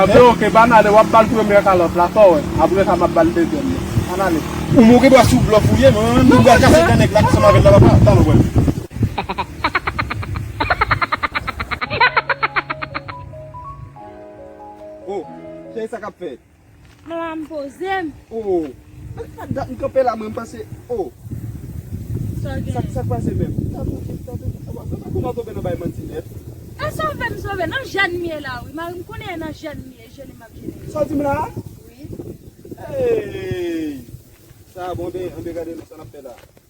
Anfen ok bann ale wap bal premyè kalòt la saw wè aprè sa map bal dezyèm nan ann ale. Ou moke bwa sou blòf ou ye mwen menm tout bwa kase dan nèg la ki sanm avèl la pa pran tanl wèl. Oh cheri sa kap fèt. Mwen la m poze m. Oh Ak dat m kanpe la mwen m pase oh Sa gen Sa k pase menm Tan pou kit tan pou kit Aba Mwen pa konn an tonbe nan bay manti nèt. E sove m sove nan jèn m ye la wi mari m konnen e nan jèn m ye jene m ap jene yo. Sa w di m la a? Wi. Eeyy Sa a bon anben anben gade non sa n ap fè la a.